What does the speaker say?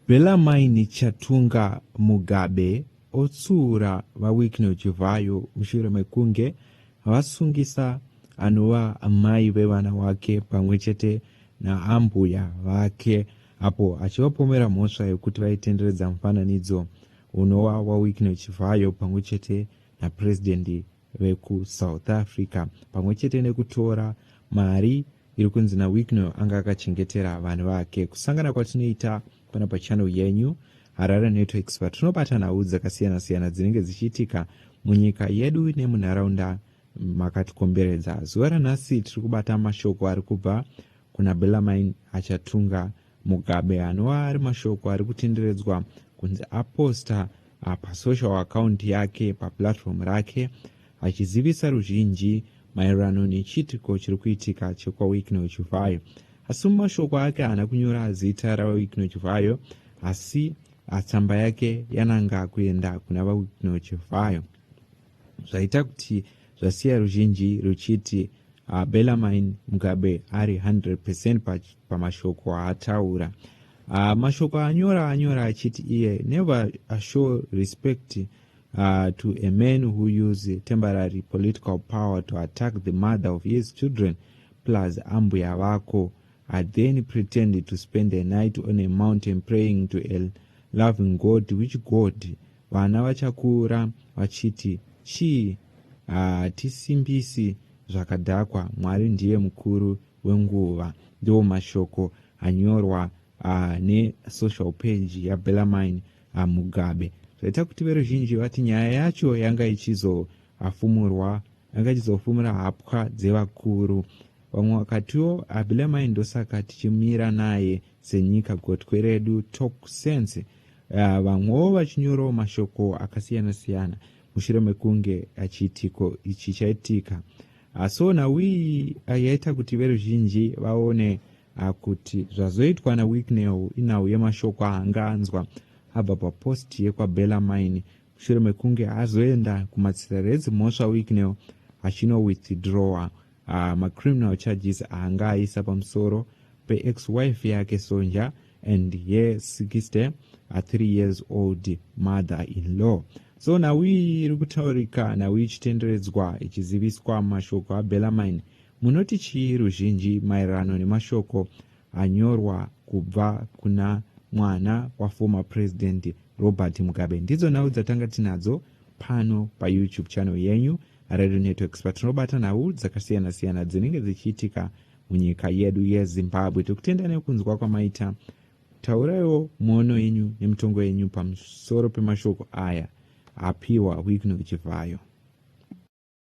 Bellarmine Chatunga Mugabe otsiura VaWicknell Chivhayo mushure mekunge vasungisa anova amai vevana wake pamwe chete naambuya vake apo achivapomera mhosva yekuti vaitenderedza mufananidzo unova waWicknell Chivhayo pamwe chete naPresident vekuSouth Africa pamwe chete nekutora mari iri kunzi naWicknell anga akachengetera vanhu vake. Kusangana kwatinoita pano pachannel yenyu Harare Network Expert tinobata nhau dzakasiyana siyana dzinenge dzichiitika munyika yedu nemunharaunda makatikomberedza. Zuva ranhasi tiri kubata mashoko ari kubva kuna Bellarmine Achatunga Mugabe anova ari mashoko ari kutenderedzwa kunzi aposta ah, pasocial account yake paplatform rake vachizivisa ruzhinji maererano nechiitiko chiri kuitika chekwaWicknell Chivhayo. Asi mumashoko ake haana kunyora zita raVaWicknell Chivhayo asi tsamba yake yananga kuenda kuna VaWicknell Chivhayo zvaita kuti zvasiya ruzhinji ruchiti uh, Bellarmine Mugabe ari 100% pamashoko aataura uh, mashoko anyora anyora achiti iye never show respect Uh, to a man who use temporary political power to attack the mother of his children plus ambuya vako i then pretend to spend a night on a mountain praying to a loving god which god vana vachakura vachiti chii hatisimbisi uh, zvakadhakwa mwari ndiye mukuru wenguva ndiwo mashoko anyorwa uh, nesocial page yabelamine aMugabe zvaita kuti veruzhinji vati nyaya yacho yanga ichizoafumurwa yanga ichizofumura hapwa dzevakuru vamwe vakatiwo abilamai ndosaka tichimira naye senyika gotwe redu talk sense uh, vamwewo vachinyorawo mashoko akasiyana siyana mushure mekunge chiitiko ichi chaitika asona wii yaita kuti veruzhinji vaone Akuti zvazoitwa naWicknell inhau yemashoko aanga anzwa abva papost yekwaBellarmine mushure mekunge azoenda kumatsirere edzimhosva Wicknell achino withdrawer uh, macriminal charges aanga aisa pamusoro peex wife yake Sonja and her 63 uh, years old mother in law so nhau iyi iri kutaurika nhau ichitenderedzwa ichiziviswa mashoko aBellarmine Munoti chii ruzhinji maererano nemashoko anyorwa kubva kuna mwana waformer president Robert Mugabe? Ndidzo nhau dzatanga tinadzo pano paYouTube channel yenyu Radio Network Expert. Tinobata nhau dzakasiyana siyana dzinenge dzichiitika munyika yedu yeZimbabwe. Tikutenda nekunzwa kwamaita. Tauraiwo muono yenyu nemitongo yenyu pamusoro pemashoko aya apiwa Wicknell Chivhayo.